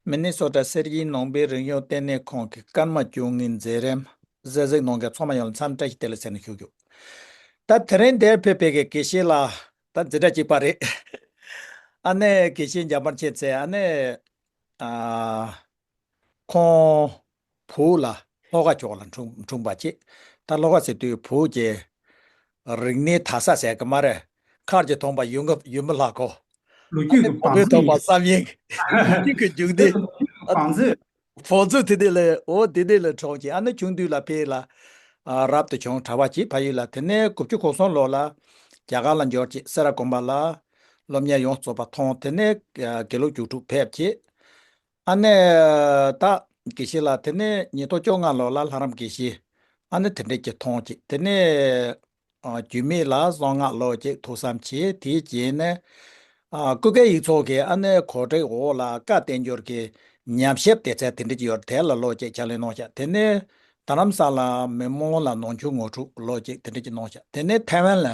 མི་ནི་སོ་ཏྲ་སེར་གྱིས་ནོངས་པའི་རིང་གཡོག་གཏན་ནས་ཁོང་གི་སྐར་མ་བཅུ་གཉིས་མཛེས་རན། གཟེར་གཟེགས་ནོངས་ཀྱང་ཚོགས་མ་ཡོང་ལ་མཚམས་བཀྲ་ཤིས་བདེ་ལ་ཟེར་ནས་བཞུགས་རྒྱུ། ད་དེ་རིང་འདིར་ཕེབས་པའི་གི་གེ་ཤེས་ལ་ད་འཛིན་གྲྭ་གཅིག་པ་རེད། ཨ་ནེ་གི་གེ་ཤེས་འཇམ་པར་བྱས་ཚེ་ཨ་ནེས། ཨ། ཁོང། བུ་ལ་ལྷོ་ཁ་ཕྱོགས་ལ་འཁྲུངས་པ་ཅེས་ད་ལྷོ་ཁ་སི་ཏུའི་བུ་རྒྱལ། རིག་གནས་དར་ས་ཟད་ཀྱི་སྨྲ་རེད། མཁར་གྱི་ཐོག་མ་ཡུ་མི་ལྷག་གོ། ལོ་རྒྱུས་ཀྱི་བང་མཛོད་ཡིན། ལོ་རྒྱུས་ཀྱི་རྒྱུགས་འདི། བང་མཛོད། བང་མཛོད་དེ་ནས་ལ་འོ་དེ་ནས་ལ་གྲོངས་ཀྱི་ཨ་ནེ་ཆུང་དུས་ལ་ཕེ་ལ། རབ་ཏུ་བྱུང་གྲྭ་བ་གྱིས་ཕ་ཡུལ་ལ་དེ་ནས་དགུ་བཅུ་གོ་སོང་ལོ་ལ། རྒྱ་གར་ལ་འབྱོར་ཅིག་སེ་ར་དགོན་པ་ལ། སློབ་གཉེར་ཡོངས་རྫོགས་པ་ཐོང་དེ་ནས་དགེ་ལུགས་རྒྱུགས་དྲུག་ཕེབས་ཀྱི། ཨ་ནེ། ད་གེ་བྱི་ལ་དེ་ནས་ཉིས་སྟོང་བཅོ་ལྔ་ལོ་ལ་ལྷ་རམས་གེ་བྱི། ཨ་ནེ་དེ་འདྲས་ཀྱི་ཐོང་ཅིག་དེ་ནས། རྒྱུས་མེད་ལ་གསང་སྔགས་ལོ་ཅིག་ཐུགས་བསམ་བྱས་དེའི་རྗེས་ནས། ཀུན་དགའ་ཡིག་ཚོགས་ཀྱི་ཨ་ནེ་གོ་བྲེག་འོག་ལ་བཀའ་བསྟན་འགྱུར་གྱི་ཉམས་ཞིབ་དེ་ཚད་དེ་འདྲས་ཀྱི་ཡོད་དེ་ལ་ལོ་ཅིག་ཕྱག་ལེན་གནང་བཞག་དེ་ནས། དར་རམས་ས་ལ་མི་མང་ལ་ནང་ཆོས་ངོ་དྲུག་ལོ་ཅིག་དེ་འདྲས་ཀྱི་གནང་བཞག་དེ་ནས་ཐའི་ཝན་ལ་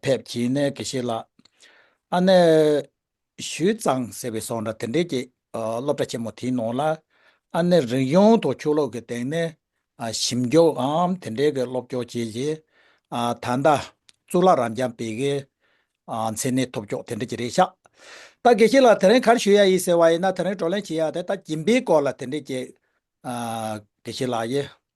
ཕེབས་གྱིས་ནས་གེ་བྱི་ལ། ཨ་ནེ། ཞུས་ཙང་ཟེར་བའི་སོག་འདྲ་དེ་འདྲས་ཀྱི་སློབ་གྲྭ་ཆེན་མོ་དེའི་ནང་ལ། ཨ་ནེ་རིག་གཞུང་དང་ཆོས་ལུགས་ཀྱི་སྟེང་ནས་ཞིབ་འཇུག་ངམ་དེ་འདྲས་ཀྱི་སློབ་སྐྱོར་བྱས་རྗེས། ད་ལྟ་གཙུག་ལག་རབ་འབྱམས་བེ་གའི་མཚན་གནས་ཐོབ་ཆོག་དེ་འདྲས་ཀྱི་རེད་ཤག་ད་གལ་སྲིད་ལ་དེ་རིང་གར་ཞུ་ཡ་ཡིན་ཟེར་བ་ཡིན་ན་དེ་རིང་བགྲོ་གླེང་བྱེད་ཡ་དེ་ད་སྦྱིན་པའི་སྐོར་ལ་དེ་འདྲས་ཀྱི་གལ་སྲིད་ལ་ཡིན།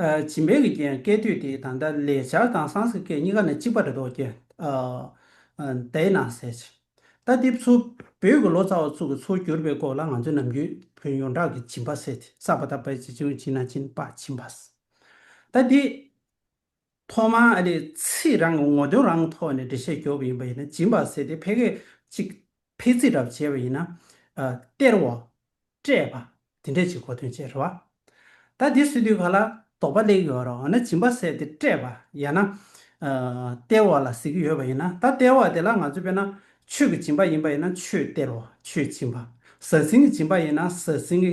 བྱིན་འབེབས་ཀྱི་རྐྱེན་སྐད་དོད་དེ་དང་འདྲ་ལས་སྦྱར་དང་སངས་སྐད་གཉིས་ཀ་ནི་གཅིག་པ་འདྲ་འདོགས་ཀྱི། དེས་ན་ཟེར། རྟ་རྡེབ་ཚུར་བོད་ཀྱི་ལོ་ཙཱ་བ་ཚུར་གྱི་ཚུར་བསྒྱུར་བའི་སྐོར་ལ་ང་ཚོས་ནམ་རྒྱུན་བོན་ཡོངས་གྲགས་ཀྱི་བྱིན་པ་བསལ་ཏེ་བསགས་པ་དག་པས་ཅི་བྱུང་བྱིན་ན་བྱིན་པ་བྱིན་པ། ད་དེ། ཐོག་མར་ཨ་རིས་ཚེ་རང་གི་ངོ་དོན་རང་ཐོག་ནས་འགྲེལ་བཤད་རྒྱོབ་པ་ཡིན་པ་ཡིན་ན་སྦྱིན་པ་ཟེར་ཏེ་ཕལ་སྐད་ཅིག་ཕལ་ཚིག་འདྲ་བ་བྱས་པ་ཡིན་ན། སྟེར་བ། སྤྲད་པ། དེ་འདྲས་ཀྱི་གོ་དོན་བྱས་རེད་བ། ད་དེ་སུས་དུས་ག་ལ་དོགས་པ་གླེགས་ཡོད་རོགས་འོ་ན་སྦྱིན་པ་ཟེར་ཏེ་སྤྲད་པ་ཡང་ན། སྟེར་བ་ལ་ཟེར་གྱི་ཡོད་པ་ཡིན་ན་ད་སྟེར་བ་དེ་ལ་ང་ཚོས་དཔེར་ན་ཆོས་ཀྱི་སྦྱིན་པ་ཡིན་པ་ཡིན་ན་ཆོས་སྟེར་བ་ཆོས་སྦྱིན་པ། ཟ་ཟིང་གི་སྦྱིན་པ་ཡིན་ན་ཟ་ཟིང་གི་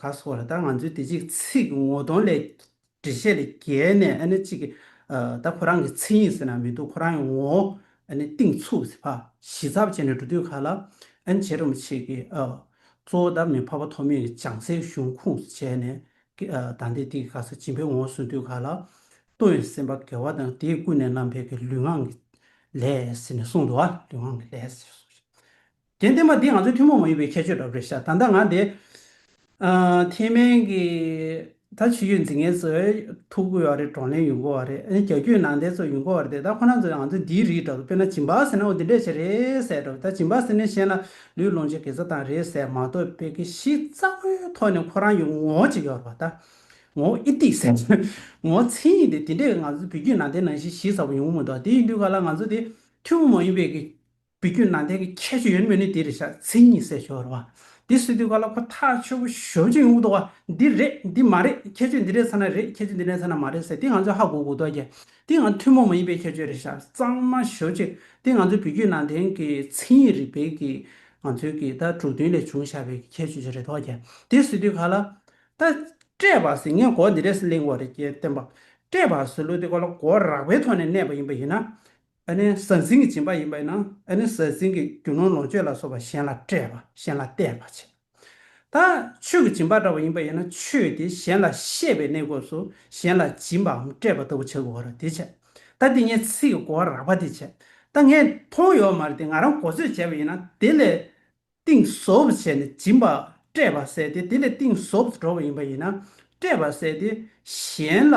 ག་སོགས་རེད་ད་ང་ཚོས་དེ་གཅིག་ཚིག་ངོ་གདོང་ལས་འགྲེལ་བཤད་ལས་བརྒལ་ནས་ཨ་ནི་གཅིག་གི་ད་ཁོ་རང་གི་མཚན་ཉིད་ཟེར་ན་མི་འདུག་ཁོ་རང་གི་ངོ་བོ་ཨ་ནི་གཏིང་ཚུགས་ཟེར་བ་ཞི་ཚབ་བྱས་ནས་འགྲོ་དུས་ག་ལ་ཨ་ནི་བྱེད་རུང་མི་བྱེད་ཀི། གཙོ་བོ་ད་མི་ཕ་བ་ཐོག་མེད་ཀྱི་བྱང་ཚད་གཞུང་ཁུངས་སུ་བྱས་ནས་ཀི་ད་འདི་དེ་ག་ས་སྦྱིན་པའི་ངོ་བོ་ཟུང་དུས་ག་ལ་ལྟོ་ཡོད་སེམས་པ་དགེ་བ་དང་དེས་ཀུན་ནས་རྣམ་འཕེལ་གི་ལུས་ངག་གི་ལས་ཟེར་ནས་གསུངས་འདུག་ལུས་ངག་གི་ལས་ཟེར་སོགས་ཞེས་དེང་བསྟན་པ་འདི་ང་ཚོའི་ཐུན་མོང་མ་ཡིན་པའི་ཁྱད་ཆོས་རབ་རེད་ཤག་ད་ལྟ་ང་འདི། ཐེན་མན་གྱི། ད་ཕྱི་ཡུལ་འཛིན་མཁན་ཚོས་ཐུགས་བསྐུལ་བ་རེད་བགྲོ་གླེང་ཡུལ་འགོ་བ་རེད་ཨ་ནི་གྱ་གྱུའི་ནང་བསྟན་ཚོ་ཡུལ་འགོ་བ་རེད་ད་ཁོ་ན་ཚོས་ང་ཚོ་འདིའི་རིགས་འདྲ་བོ་དཔེར་ན་བྱིན་པ་ཟེར་ན་འོ་འདི་འདྲས་བྱས་རེད་ཟེར་འདྲ་བོ་ད་བྱིན་པ་ཟེར་ནས་གཞན་ལ་ལུས་སློང་བྱེད་གེ་ཚ་བཏང་རེད་ཟེར་མ་གཏོགས་དཔེ་གེ་གཞི་རྩ་བོའི་ཐོག་ནས་ཁོ་རང་ཡུལ་འགོ་བྱེད་ཀྱི་བ་རེད་བ་ད། ངོ་ཨི་ཏི་ཟེར། ངོ་མཚན་ཡིན་ཏེ་དེ་འདྲས་ང་ཚོ་བོད་བརྒྱུད་ནང་བསྟན་ནང་བཞིན་གཞི་རྩ་བོ་ཡུལ་འགོ་མི་འདུག་ཨ་དེ་ཡིན་དུས་ག་ལ་ང་ཚོ་འདི་ཐུན་མོང་མ་ཡིན་པའི། བུ་རྒྱུད་ནང་བསྟན་གྱི་ཁྱད་ཆོས་ཡོད་མེད་ནི་དེ་རེད་བྱ་མཚན་ཉིད་གསལ་ཤོར་བ། དེ་སུས་བསྡུས་པ་ལ་ཁོ་ཐག་ཆོད་པོ་ཞོར་ཅིག་ངུ་བཟློག་བ། འདི་རེད་འདི་མ་རེད་ཁྱད་ཆོས་འདི་རེད་ཚ་ན་རེད་ཁྱད་ཆོས་འདི་རེད་ཚ་ན་མ་རེད་ཟེར་དེ་ང་ཚོས་ཧ་གོ་གོ་བཟློག་རྒྱ། དེ་འང་ཐུན་མོང་མ་ཡིན་པའི་ཁྱད་ཆོས་རེད་བྱ་གཙང་མ་ཞོར་ཅིག་དེ་ང་ཚོའི་བུ་རྒྱུད་ནང་བསྟན་གྱི་མཚན་ཉིད་རིག་པའི་གི་ང་ཚོའི་གི་ད་དྲུག་བདུན་ལས་བྱུང་བྱ་བའི་ཁྱད་ཆོས་ཅིག་རེད་བཟློག་རྒྱ། དེ་སུས་བསྡུས་ག་ལ། ད། བཀྲས་པ་ཟིན་ངས་གོ་འདི་རེད་ཟེར་གླེང་བ་རེད་ཀྱེ་བསྟན་པ། བཀྲས་པ་ཟེར་ལུགས་དེ་གོ་ལ་གོ་རགས་པའི་ཐོག་ནས་གནས་པ་ཡིན་པ་ཡིན་ན། ཨ་ནི་ཟང་ཟིང་གི་སྦྱིན་པ་ཡིན་པས་ན་ཨ་ནི་ཟང་ཟིང་གི་རྒྱུ་ནོར་ལོངས་སྤྱོད་ལ་སོགས་པ་གཞན་ལ་སྤྲད་པ་གཞན་ལ་སྟེར་བར་བྱེད། ད་ཆོས་ཀྱི་སྦྱིན་པ་འདྲ་བ་ཡིན་པ་ཡིན་ན་ཆོས་དེ་གཞན་ལ་ཤེས་པའི་གནས་སྐབས་སུ་གཞན་ལ་སྦྱིན་པའམ་སྤྲད་པ་ལྟ་བུ་བྱ་དགོས་བར་དེ་བྱེད། ད་འདི་ངས་ཚིག་གི་གོ་བ་རགས་པ་དེ་བྱེད། ད་ངས་མཐོང་ཡོད་མ་རེད་དེ་ང་རང་གོ་ཚོད་བྱས་པ་ཡིན་ན་དེ་ལས་གཏིང་ཟབ་བྱས་ནས་སྦྱིན་པ་སྤྲད་པ་ཟད་དེ་དེ་ལས་གཏིང་ཟབ་ཏུ་འགྲོ་བ་ཡིན་པ་ཡིན་ན་སྤྲད་པ་ཟད་དེ་གཞན་ལ་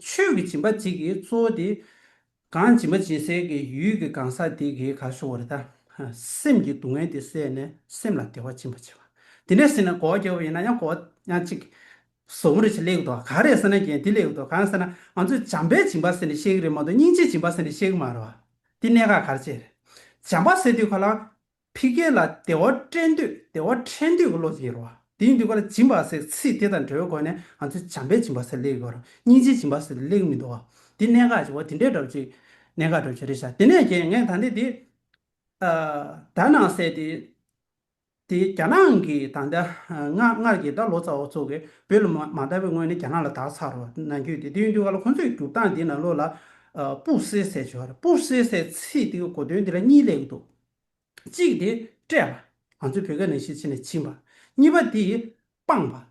ཆོས་ཀྱི་སྦྱིན་པ་གཅིག་གིས་གཙོ་བོ་དེ། གང་སྦྱིན་པ་སྦྱིན་སའི་གི་ཡུལ་གྱི་གང་ཟག་དེ་གིས་གང་ཤོར་བ་རེ་ད། སེམས་ཀྱི་སྡུག་བསྔལ་དེ་བསལ་ནས་སེམས་ལ་བདེ་བ་སྦྱིན་པར་བྱེད་པ། དེ་ནས་ཟིན་ན་གོ་བ་སྐྱེ་བ་ཡིན་ན་ཡང་གོ་བ་ཡང་གཅིག། ཟོག་པོ་རེ་ཆེ་ལེགས་འདུག་ག་རེད་ཟེར་ན་རྒྱན་དེ་ལེགས་འདུག་གང་ཟེར་ན་ང་ཚོས་བྱམས་པའི་སྦྱིན་པ་ཟེར་ནས་ཤེས་ཀྱི་རེད་མ་གཏོགས་སྙིང་རྗེའི་སྦྱིན་པ་ཟེར་ནས་ཤེས་ཀྱི་མ་རེད་བ། དེ་གནད་འགག་ག་རེ་བྱེད། བྱམས་པ་ཟེར་དུས་ཁོ་ལ། ཕི་རྒྱལ་ལ་བདེ་བ་བསྐྲན་དུས་བདེ་བ་ཕྲན་དུས་ཀྱི་བློ་སྐྱེ་རོགས། དེ་ཡིན་དུས་ཀ་ལ་སྦྱིན་པ་ཟེར་ཚིག་དེ་དང་འབྲེལ་བའི་སྒོ་ནས་ང་ཚོས་བྱམས་པའི་སྦྱིན་པ་ཟེར་ལེགས་དགོས་རུང་སྙིང་རྗེའི་སྦྱིན་པ་ཟེར་ལེགས་མི་འདུག་འདི་གནད་འགག་ཅིག་འོ་དེ་འདྲའི་སྒྲ་བརྗོད་གནད་འགག་སྒྲ་བརྗོད་རེད་བཞག་དེ་ནས་ཀྱེ་ངས་ད་ནི་དེ་དག་ནང་གསལ་ཏེ། དེ་རྒྱ་ནག་གི་ད་ལྟ་སྔར་གྱི་ད་ལོ་ཙཱ་བ་ཚོ་གིས་བོད་ལ་མ་ལྟ་བའི་སྔོན་ནས་རྒྱ་ནག་ལ་དག་ཚར་རོ་ན་འགྱོད་དེ་དེ་ཡིན་དུས་ཀ་ལ་ཁོ་ཚོས་བསྒྱུར་སྟངས་འདི་ན་བློ་ལ་སྤུ་སེ་སེ་བྱོས་རེད་སྤུ་སེ་སེ་ཚིག་དེ་གི་གོ་དོན་འདི་ལ་གཉིས་ལེགས་འདུག་གཅིག་དེ་སྤྲད་པ། ང་ཚོས་བོད་སྐད་ནང་ཤེས་ཚིག་ནས་བྱིན་པ། གཉིས་པ་དེ་སྤངས་པ།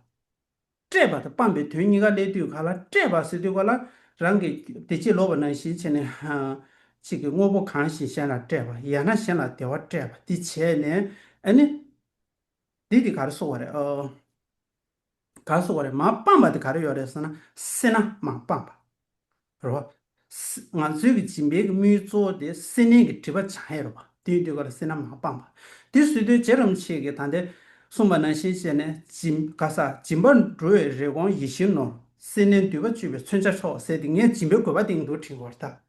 སྤྲད་པ་དང་སྤངས་པའི་དོན་གཉིས་ཀ་སླད་དུས་ག་ལ་སྤྲད་པ་ཟེར་དུས་ག་ལ་རང་གི་བདེ་སྐྱིད་ལོག་པ་ནང་བཞིན་བྱས་ནས་གཅིག་གི་དངོས་པོ་གང་བཞིན་གཞན་ལ་སྤྲད་པ་ཡང་ན་གཞན་ལ་བདེ་བ་སྤྲད་པ་དེ་བྱས་ནས་ཨ་ནི། འདི་དེ་ག་རེ་གསུང་བ་རེད་ཨོ། ག་སོགས་པ་རེད་མ་སྤངས་པ་དེ་ག་རེ་ཡོད་རེད་ཟེར་ན་སེར་སྣ་མ་སྤངས་པ་རེད་བ། ང་ཚོའི་གི་སྦྱིན་པའི་གི་དམིགས་ཡུལ་གཙོ་བོ་དེ་སེར་སྣའི་གི་དྲི་བ་བྱང་ཡེ་རེད་བ་དེ་ཡིན་དུས་ག་རེ་སེར་སྣ་མ་སྤངས་པ་དེ་སུས་ལྟོས་བཅས་རམ་ཆེ་གི་ད་དེ་གསུངས་པ་ནང་བཞིན་བྱས་ནས་སྦྱིན་ག་ས་སྦྱིན་པར་འགྲོ་བའི་རེ་སྐོང་ཡིད་བཞིན་ནོར་སེར་སྣའི་འདུས་པ་གཅོད་པའི་མཚོན་ཆ་ཆོག་ཟེར་དེ་ངས་སྦྱིན་པའི་དགོས་པ་དེ་ཡིན་དུ་དྲིན་གོར་དག་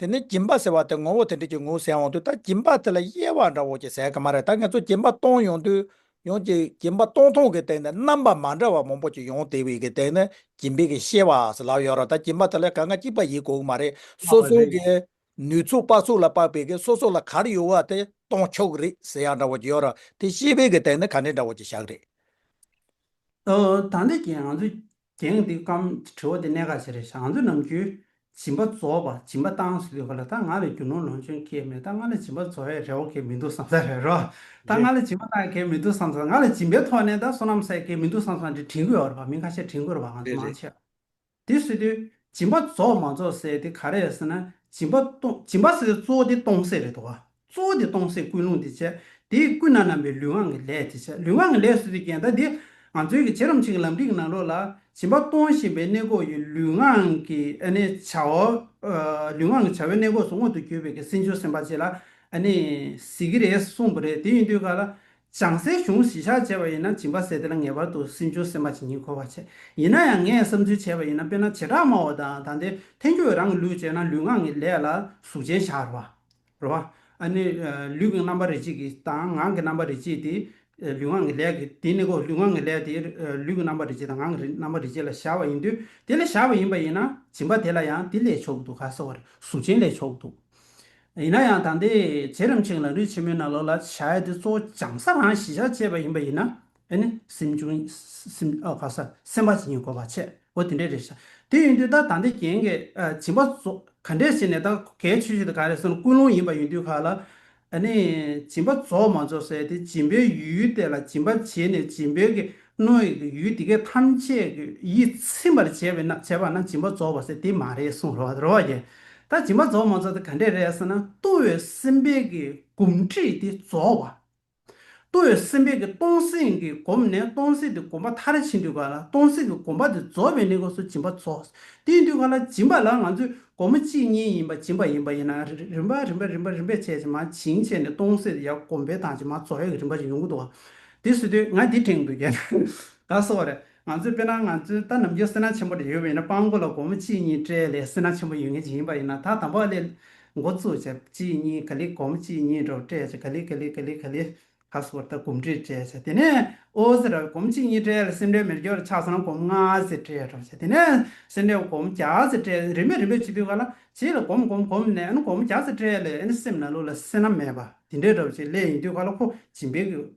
དེ་ནས་སྦྱིན་པ་ཟེར་བ་དེ་ངོ་བོ་དེ་འདྲས་ཀྱི་ངོ་བོ་ཟད་འོང་དུས་ད་སྦྱིན་པ་དེ་ལ་དབྱེ་བ་འདྲ་བོ་ཅིག་ཟད་ཀྱི་མ་རེད་ད་ངེད་ཚོ་སྦྱིན་པ་གཏོང་ཡོང་དུས་ཡོང་གི་སྦྱིན་པ་གཏོང་ཐོང་གི་སྟེང་ནས་རྣམ་པ་མ་འདྲ་བ་མང་པོ་ཅིག་ཡོང་དེ་བས་ཀྱི་སྟེང་ནས་སྦྱིན་པའི་ཀྱི་ཤེས་བ་ལག་ཡོད་ར་ད་སྦྱིན་པ་དེ་ལ་ག་ང་གཅིག་པ་ཡིན་དགོས་ཀྱི་མ་རེད་སོ་སོའི་ཀྱི་ནུས་ཚུགས་དཔག་ཚུགས་ལ་དཔག་པའི་ཀྱི་སོ་སོ་ལ་གར་ཡོད་བ་དེ་གཏོང་ཆོག་གི་རེད་ཟེར་ཡག་འདྲ་བོ་ཅིག་ཡོད་ར་དེ་ཤེས་པའི་ཀྱི་སྟེང་ནས་ག་འདྲས་འདྲ་བོ་ཅིག་བཞག་རེད། ད་ནས་ཀྱི་ང་ཚོས་རྒྱན་འདི་སྐམ། དྲི་བ་འདི་གནད་འགག་ཆེ་རེད་བཞག་ང་ཚོ་ནམ་རྒྱུན་སྦྱིན་པ་རྫོགས་པ་སྦྱིན་པ་བཏང་ཟེར་དུས་ག་ལ་ད་ང་ལ་རྒྱུ་ནོར་ལོངས་སྤྱོད་མཁས་མེད་ད་ང་ལ་སྦྱིན་པ་རྫོགས་ཡས་རེ་བ་གས་མི་འདུག་བསམ་ས་རེད་རོ། ད་ང་ལ་སྦྱིན་པ་བཏང་གས་མི་འདུག་བསམ་ས་ང་ལ་སྦྱིན་པའི་ཐོག་ནས་ད་བསོད་ནམས་བསགས་གས་མི་འདུག་བསམ་ས་འདི་དྲིན་གོས་ཨོ་རེད་པ་མི་ཁ་ཤས་དྲིན་གོས་རེད་པ་ང་ཚོ་མང་ཆེ། དེ་ཟེར་དུས་སྦྱིན་པ་རྫོགས་མ་རྫོགས་ཟེར་དེ་ག་རེད་ཟེར་ན་སྦྱིན་པ་སྟོང་སྦྱིན་པ་ཟེར་དུས་གཙོ་བོ་དེ་སྟོང་ཟེར་རེད་དོ། གཙོ་བོ་དེ་སྟོང་གསལ་ཀུན་སློང་དེ་བྱེད། དེས་ཀུན་ན་སྣང་བའི་ལུས་ངག་གི་ལས་དེ་བྱེད། ལུས་ངག་གི་ལས་སུ་དེ་བརྒྱན་ད་དེ། ང་ཚོའི་གི་བྱེད་རམ་བྱེད་ཀྱི་ལམ་ཁྲིད་ཀྱི་ནང་ལོགས་ལ། བྱིན་པ་གཏོང་བཞིན་པའི་གནས་འགོག་ཡོད་ལུས་ངག་གི་ནི་བྱ། ལུས་ངག་གི་བྱ་བའི་གནས་འགོག་སུ་མངོན་དུ་གྱུར་པའི་གི་སྲིད་འབྱོར་སེམས་དཔའ་བྱེད་ལ། ནི། ཟེར་གི་རེད་གསུངས་པ་རེད་དེ་ཡིན་དུས་ག་ལ། བྱང་སའི་གཞུང་གཞི་བཞག་བྱས་པ་ཡིན་ན་བྱིན་པ་ཟེར་དེ་ལ་ངེས་པར་དུ་སྲིད་འབྱོར་སེམས་དཔའ་བྱེད་ཉིད་གོ་བར་བྱས། ཡིན་ན་ཡང་ངས་བསམ་ཚུལ་བྱས་པ་ཡིན་ན་དཔེར་ན་བྱེ་བྲག་སྨྲ་བ་དང་ད་དེ་ཐན་སྐྱོ་བའི་རང་གི་ལུས་བྱས་ན་ལུས་ངག་གི་ལས་ལ་གཟུགས་ཅན་བཞག་རོགས། རེད་བ། ཨ་ནི། ལུས་ཀྱི་རྣམ་པ་རེ་གཅིག་གིས་དང་ངང་གི་རྣམ་པ་རེ་གཅིག་དེ། ལུས་ངག་གི་ལས་ཀྱིས་དེ་ནི་གོ་ལུས་ངག་གི་ལས་དེ། ལུས་ཀྱི་རྣམ་པ་རེ་གཅིག་དང་ངག་གི་རྣམ་པ་རེ་གཅིག་ལ་བཞག་པ་ཡིན་དུས་དེ་ལ་བཞག་པ་ཡིན་པ་ཡིན་ན་སྦྱིན་པ་དེ་ལ་ཡང་དེ་ལས་ཆོག་གི་འདུག་ག་སོགས་པར་གཟུགས་ཅན་ལས་ཆོག་གི་འདུག། ཡིན་ན་ཡང་ད་ལྟའི་རྗེས་རིམ་ཆེན་གྱི་ལམ་རིས་ཆེན་མོའི་ནང་ལོགས་ལ་བྱ་ཡ་དེ་གཙོ་བོ་སྦྱང་ས་དང་ཞི་བྱ་བཅས་པ་ཡིན་པ་ཡིན་ན། དེ་ནི་སེམས་བྱུང། ག་ས་སེམས་པ་ཅན་གྱི་གོ་བ་ཆད། འོ་དེ་འདྲའི་རེད་ཤག། དེ་ཡིན་དུས་ད་ད་འདི་རྒྱན་གྱི་བྱིན་པ་ཚོ་ག་འདྲས་བྱས་ནས་ད་གའི་ཆོས་ཤིག་དང་ག་རེ་སོང་ཀུན་སློང་ཡིན་པ་ཡིན་དུས་ཁག་ལ། ཨ་ནི། བྱིན་པ་རྫོགས་མ་རྫོགས་ཟེར་དེ་བྱིན་པའི་ཡུལ་དེ་ལ་བྱིན་པ་བྱས་ནས་བྱིན་པའི་གི་སྣོད་ཡི་གི་ཡུལ་དེ་གས་ཐམས་ཅད་གི་ཡིད་ཚིམ་པར་བྱས་པས་ན་བྱས་པ་ན་བྱིན་པ་རྫོགས་པ་ཟེར་དེ་མ་རེད་གསུང་རོ་རོ་བ་ཡིན། ད་བྱིན་པ་རྫོགས་མ་རྫོགས་དེ་ག་འདྲས་རེད་ཟེར་ན་ལྟུང་བའི་སེམས་པའི་གི་གོམས་འདྲིས་དེ་རྫོགས་བ། ལྟོ་བའི་སེམས་དཔས་ཀྱི་སྟོང་གཟུགས་ཀྱིས་བསྒོམས་ནས་སྟོང་གཟུགས་དེ་བསྒོམ་པ་མཐར་ཕྱིན་དུས་ག་ལ་སྟོང་གཟུགས་ཀྱིས་བསྒོམ་པ་དེ་རྫོགས་པའི་གནས་སྐབས་སུ་སྦྱིན་པ་རྫོགས། དེའི་དུས་ག་ལ་སྦྱིན་པ་ལ་ང་ཚོས་སྒོར་མོ་གཅིག་གཉིས་ཡིན་པ་སྦྱིན་པ་ཡིན་པ་ཡིན་ན་རིམ་པ་རིམ་པ་རིམ་པ་རིམ་པས་བྱས་ཅི་མ་བྱིན་བྱས་ནས་སྟོང་གཟུགས་དེ་ཡང་བསྒོམ་པའི་དང་ཅི་མ་རྫོགས་ཡོད་ཀྱི་རིམ་པ་ཅིག་ཡོང་གི་འདུག་བ། དེ་སུས་ཐོས་ང་དེ་དྲན་གི་འདུག་གས། ག་སོགས་རེད། ང་ཚོས་དཔེར་ན་ང་ཚོའི་ལྟ་ནམ་རྒྱུན་སེར་སྣ་ཆེན་པོ་རེ་ཡོད་པ་ཡིན་ན་སྤང་མགོ་ལ་སྒོར་མོ་གཅིག་གཉིས་སྤྲད་ལས་སེར་སྣ་ཆེན་པོ་ཡོད་ངེས་ཅིག་ཡིན་པ་ཡིན་ན་ད་དམ་པ་ལས་མགོ་བཙུགས་བྱས་གཅིག་གཉིས་ག་ལི་སྒོར་མོ་གཅིག་གཉིས་འགྲོ་བ་སྤྲད་བྱས་ག་ལི་ག་ལི་ག་ལི་ག་ལི་ཁ་སོ་བོར་ལྟ་གོམ་འདྲིས་སྤྲད་བྱས་དེ་ནས་ཨོ་ཟེར་ར་བས་སྒོར་མོ་གཅིག་གཉིས་སྤྲད་ལ་སེར་འབྲས་མེར་སྒྱོགས་རེ་ཆགས་སོང་ན་སྒོར་མོ་ལྔ་ཟེར་སྤྲད་འགྲོ་བྱས་དེ་ནས་སེར་འབྲས་སྒོར་མོ་བརྒྱ་ཟེར་སྤྲད་རིམ་པས་རིམ་པས་བྱེད་དུས་ག་ལ་བྱེད་ལ་གོམས་གོམས་གོམས་ནས་ཨ་ནུ་སྒོར་མོ་བརྒྱ་ཟེར་སྤྲད་ལས་ཨ་ནུ་སེམས་ན་ལུས་ལ་སེར་སྣ་མེད་པ་འདི་འདྲའི་འགྲོ་བྱེད་ལས་ཡིན་དུས་ག་ལ་ཁོ་ཇིམ་པའི་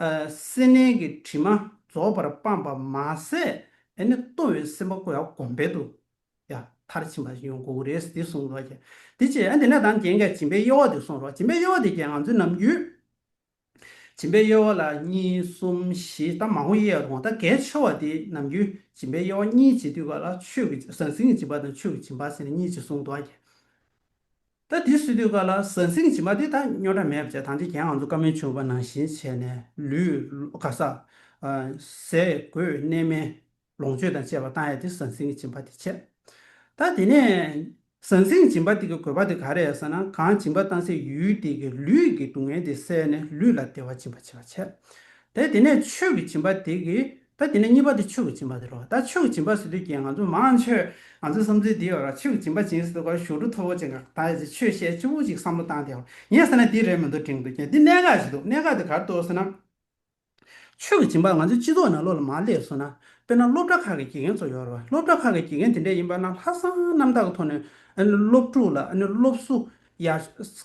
སེར་སྣའི་གི་དྲི་མ་རྫོགས་པར་སྤངས་པ་མ་ཟད་དེ་ནས་ལྟོ་བའི་སེམས་དཔའ་ཀོ་ཡ་གོམ་བེ་དུ་ཡ། མཐར་ཕྱིན་པ་ཡོན་གོའུ་རེས་འདི་གསུངས་སོ། དེ་ཅི་ཡང་དེ་ནས་དང་རྒྱན་གྱི་སྦྱིན་པའི་དབྱེ་བ་འདི་གསུངས་སོ། སྦྱིན་པའི་དབྱེ་བ་འདི་རྒྱན་ང་ཚོས་ནམ་རྒྱུན། སྦྱིན་པའི་དབྱེ་བ་ལ་གཉིས་གསུམ་བཞི་ད་མང་བོ་དབྱེ་ཡོད་རུང་ད་གལ་ཆེ་བ་འདི་ནམ་རྒྱུན་སྦྱིན་པའི་དབྱེ་བ་གཉིས་ཇི་སྡུད་པ་ལ་ཆོས་ཀྱི་ཟང་ཟིང་གི་སྦྱིན་པ་དང་ཆོས་ཀྱི་སྦྱིན་པ་ཟེར་ནས་གཉིས་ཅེས་གསུངས་སོ། ད་དེ་སུས་ལྟོས་ག་ལ་ཟ་ཟིང་བྱིས་མ་དེ་དང་སྨྱོ་འདྲ་མེད་པ་བྱས་དང་དེ་གྱེན་ང་ཚོ་བཀའ་མོལ་བྱུང་བ་ནང་བཞིན་བྱས་ནས་ལུས་ལོ་ག་ས། ཟས་གོས་གནས་མལ་ལོངས་སྤྱོད་དང་བཅས་པ་བཏང་ཡས་དེ་ཟ་ཟིང་བྱིས་མ་དེ་བྱས། ད་དེ་ནས་ཟ་ཟིང་བྱིས་མ་དེ་གི་གོས་པ་དེ་ག་རེད་ཟེར་ན་གང་བྱིས་མ་བཏང་སའི་ཡུལ་དེ་གི་ལུས་ཀྱི་སྡུག་བསྔལ་དེ་བསལ་ནས་ལུས་ལ་བདེ་བ་སྦྱིན་པ་བྱས་པ་བྱས། ད་དེ་ནས་ཆོས་ཀྱི་བྱིས་མ་དེ་གི་ད་དེ་ནས་གཉིས་པ་དེ་ཆོས་ཀྱི་སྦྱིན་པ་དེ་རོ། ད་ཆོས་ཀྱི་སྦྱིན་པ་ཟེར་དུས་ཀྱི་ང་ཚོ་མང་ཆོས་ང་ཚོའི་བསམ་ཚུལ་དེའོ་ར་ཆོས་ཀྱི་སྦྱིན་པ་སྦྱིན་ཟེར་དུས་ཀ་ཞོར་དུ་ཐོ་བོ་ཅན་ག་ད་ཆོས་བཤད་སྤྱི་བོ་ཅིག་བསམ་བློ་བཏང་སྟེའོ་ངས་ཟེར་ན་དེ་རེད་མི་འདུག་དྲིང་དུ་ཁྱེད་འདི་གནད་འགག་ཅིག་འདུག་གནད་འགག་དེ་གར་གཏོགས་ཟེར་ན། ཆོས་ཀྱི་སྦྱིན་པ་ང་ཚོའི་སྤྱི་ཚོགས་ནང་བློ་ལ་མ་བསླེབས་སོང་ན་དཔེར་ན་སློབ་གྲྭ་ཁག་གི་དགེ་རྒན་ཚོ་ཡོད་རེད་བ་སློབ་གྲྭ་ཁག་གི་དགེ་རྒན་དེ་འདྲས་ཡིན་པ་ན་ལྷ་བསང་རྣམ་དག་གི་ཐོག་ནས་སློབ་ཕྲུག་ལ་སློབ་གསོ་ཡག་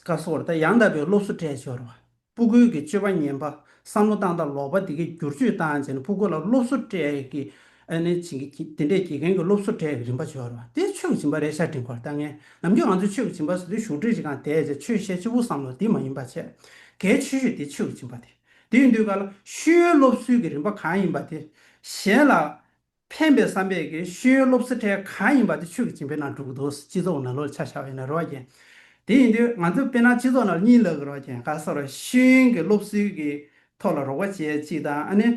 ག་སོགས་རེད་ད་ཡང་དག་པའི་སློབ་གསོ་སྤྲད་ཆོག་རེད་བ། སྤུ་རྒོད་ཀྱི་སྤྱོད་པ་ངན་པ་བསམ་བློ་བཏང་སྟབས་ལོག་པ་འདི་གའི་བསྒྱུར་བཅོས་བཏང་བྱས་ནས་སྤུ་རྒོད་ལ་སློབ་གསོ་སྤྲད་དགེ། ཨ་ནི་བྱིན་གྱིས་བརྒྱད་འདྲེས་དགེ་རྒན་གྱི་སློབ་གསོ་སྤྲད་རིམ་པ་འབྱོར་བ་དེ་ཆོས་ཀྱི་བྱིན་པ་རེད་ཤ་འདྲེན་ཁོར་ལྟ་ངན་ནམ་རྒྱུན་ང་ཚོས་ཆོས་ཀྱི་བྱིན་པ་ཟེར་དུས་ཞུགས་འབྲས་ཅི་གང་དད་ཅེས་ཆོས་བཤད་སྤྱི་བོར་བསམ་ལོ་འདི་མ་ཡིན་པ་བྱས་དགེ་ཆོས་ཤོས་དེ་ཆོས་ཀྱི་བྱིན་པ་དེ་དེ་ཡིན་དུས་ག་ལ་ཤུལ་ཡོད་སློབ་གསོའི་གི་རིམ་པ་གང་ཡིན་པ་དེ་གཞན་ལ་ཕན་པའི་བསམ་པས་ཀྱི་ཤེས་ཡོན་སློབ་གསོའི་གྲས་གང་ཡིན་པ་དེ་ཆོས་ཀྱི་སྦྱིན་པའི་ནང་བསྒྲུབ་དགོས་འདུག་སྤྱི་ཚོགས་ནང་ལོ་ཆ་བཞག་ཡོད་ན་རེ་བ་རྒྱན། དེ་ཡིན་དུས་ང་ཚོས་དཔེར་ན་སྤྱི་ཚོགས་ནང་གཉིད་ལ་རེ་བ་རྒྱན་ག་ས་རུ་ཤེས་ཡོན་གྱི་སློབ་གསོའི་གི་ཐོག་ལ་རོགས་པ་བྱེད་ཅིག་དང་ཨ་ནི།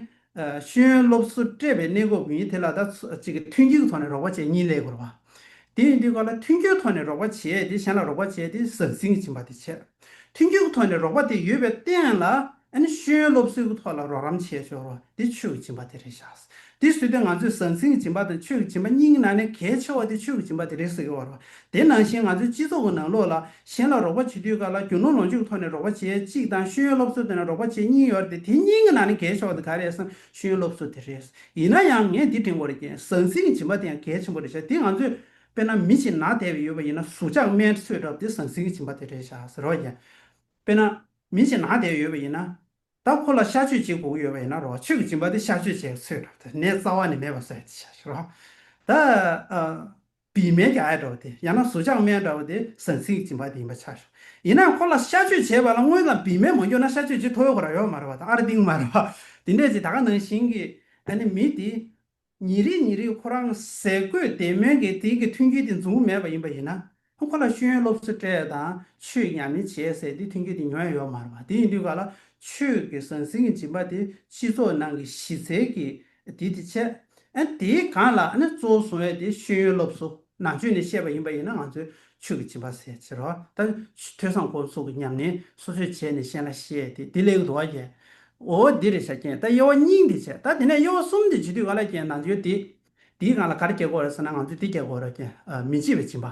ཤེས་ཡོན་སློབ་གསོ་སྤྲད་པའི་གནས་སྐོར་བུ་ཡིན་དེ་ལ་ད་ཅིག་གི་མཐུན་རྐྱེན་གྱི་ཐོག་ནས་རོགས་པ་བྱེད་གཉིད་ལས་དགོས་རེ་བ། དེ་ཡིན་དུས་ག་ལ་མཐུན་རྐྱེན་ཐོག་ནས་རོགས་པ་བྱེད་དེ་གཞན་ལ་རོགས་པ་བྱེད་དེ་ཟང་ཟིང་གི་སྦྱིན་པ་དེ་བྱེད། མཐུན་རྐྱེན་གྱི་ཐོག་ནས་རོགས་པ་དེ་ཡོད་པའི་སྟེང་ལ་ཨ་ནི་ཤེས་ཡོན་སློབ་གསོའི་ཐོག་ལ་རོགས་རམ་བྱས་ཆོག་རོགས་དེ་ཆོས་ཀྱི་སྦྱིན་པ་དེ་རེད་ཤག། དེ་བཟོས་ཏེ་ང་ཚོས་ཟང་ཟིང་གི་སྦྱིན་པ་དང་ཆོས་ཀྱི་སྦྱིན་པ་གཉིས་ཀྱི་ནང་ནས་གལ་ཆེ་བ་དེ་ཆོས་ཀྱི་སྦྱིན་པ་དེ་རེད་ཟེར་གི་ཡོད་རེད། དེ་ནང་བཞིན་ང་ཚོའི་སྤྱི་ཚོགས་ཀྱི་ནང་ལོགས་ལ་གཞན་ལ་རོགས་པ་བྱེད་དུས་ཀ་ལ་རྒྱུ་ནོར་ལོངས་སྤྱོད་ཀྱི་ཐོག་ནས་རོགས་པ་བྱེད་གཅིག་དང་ཤེས་ཡོན་སློབ་གསོ་དེ་ནས་རོགས་པ་བྱེད་གཉིས་ཡོད་རེད་དེ་དེ་གཉིས་ཀྱི་ནང་ནས་གལ་ཆེ་བ་དེ་ག་རེད་བསམ་ཤེས་ཡོན་སློབ་གསོ་དེ་རེད། ཡིན་ན་ཡང་ངས་འདི་དྲན་དགོས་རེད་ཀྱི་ཟང་ཟིང་གི་སྦྱིན་པ་དེ་ཡང་གལ་ཆེན་པོ་རེད་ཤག་དེ་ང་ཚོས་དཔེར་ན་མི་ཞིག་ནག་དལ་བའི་ཡོད་པ་ཡིན་ན་ཟུག་ཆག་སྨན་འཚོས་གྲབས་དེ་ཟང་ཟིང་གི་སྦྱིན་པ་དེ་རེད་ཤག་ཟེར་རོགས་ཀྱི། དཔེར་ན། མི་ཞིག་ནག་བསྡད་ཡོད་པ་ཡིན་ན། ད་ཁོ་ལ་ཤ་གཅོད་ཅིག་བསྒུགས་ཡོད་པ་ཡིན་ན་རོགས་ཁྱོད་ཀྱི་སྦྱིན་པ་དེ་ཤ་གཅོད་བྱས་ཚོད་འགྲོ་དེ་ནས་རྩ་བ་ནས་མེད་པ་བཟོས་ཏེ་བྱ་ཞིག་རོགས། ད། བི་མའི་རྒྱ་ཡ་འདྲ་བོ་དེ་ཡང་ན་ཟུར་ཆག་སྨན་འདྲ་བོ་དེ་ཟང་ཟིང་གི་སྦྱིན་པ་དེ་ཡིན་པ་ཆགས་བྱུང། ཡིན་ནའང་ཁོ་ལ་ཤ་གཅོད་བྱས་པ་ལ་དངོས་དང་བི་མས་མ་འགྱོ་ན་ཤ་གཅོད་བྱེད་ཐོ་ཡོ་ག་ར་ཡོ་ག་མ་ར་བ་དང་ཨ་ར་ཏིང་མ་ར་བ། དེ་འདྲས་ཅིག་ད་ག་ནང་བཞིན་གྱི་ཨ་ནི་མི་དེ། ཉིན་རེ་ཉིན་རེ་ཁོ་རང་ཟས་གོས་བདེ་སྨོན་གྱི་དེང་གི་མཐུན་རྐྱེན་དེ་འཛོམས་པོ་མེད་པ་ཡིན་པ་ཡིན་ན། ཁོ་ལ་ཤེས་ཡོན་སློབ་གསོ་སྤྲད་དང་ཆོས་ཉམས་ལེན་བྱས་ཟེར་དེ་མཐུན་རྐྱེན་དེ་ཉོ་ཡ་ཡོད་མ་རེད་པ། དེ་ཡིན་དུས་ག་ལ་ཆོས་ཀྱི་ཟང་ཟིང་གི་སྦྱིན་པ་དེ་སྤྱི་ཚོགས་ནང་གི་གཞི་རྩའི་གི་དེ་དེ་ཆད། ཨ་དེའི་གང་ལ་ཨ་ནི་གཙོ་བོ་བཟུང་ཡ་དེ་ཤེས་ཡོན་སློབ་གསོ་ནང་བྱོན་ནས་ཤེས་པ་ཡིན་པ་ཡིན་ན་ང་ཚོའི་ཆོས་ཀྱི་སྦྱིན་པ་ཟད་ཕྱིར་རོ། ད་ཐོས་བསམ་ཁོ་ཚུགས་ཀྱི་སྙམ་ནས་སོ་སོའི་བྱས་ནས་གཤེན་ལ་བཤད་དེ་དེ་ལེགས་འགྲོ་བ་བརྒྱད། འོ་འདི་རེ་བྱ་ཀྱེན་ད་དབྱེ་བ་གཉིས་འདི་བྱེད་ད་དེ་ནས་དབྱེ་བ་གསུམ་འདི་བྱེད་དུས་ག་ལ་ཀྱེན་ན་འདིའོ་དེ་དེའི་གང་ལ་གར་སྐྱེ་དགོས་རེད་ཟེར་ན་ང་ཚོས་དེ་སྐྱེ་དགོས་རོ་ཀྱེན་མི་འཇིགས་པའི་སྦྱིན་པ་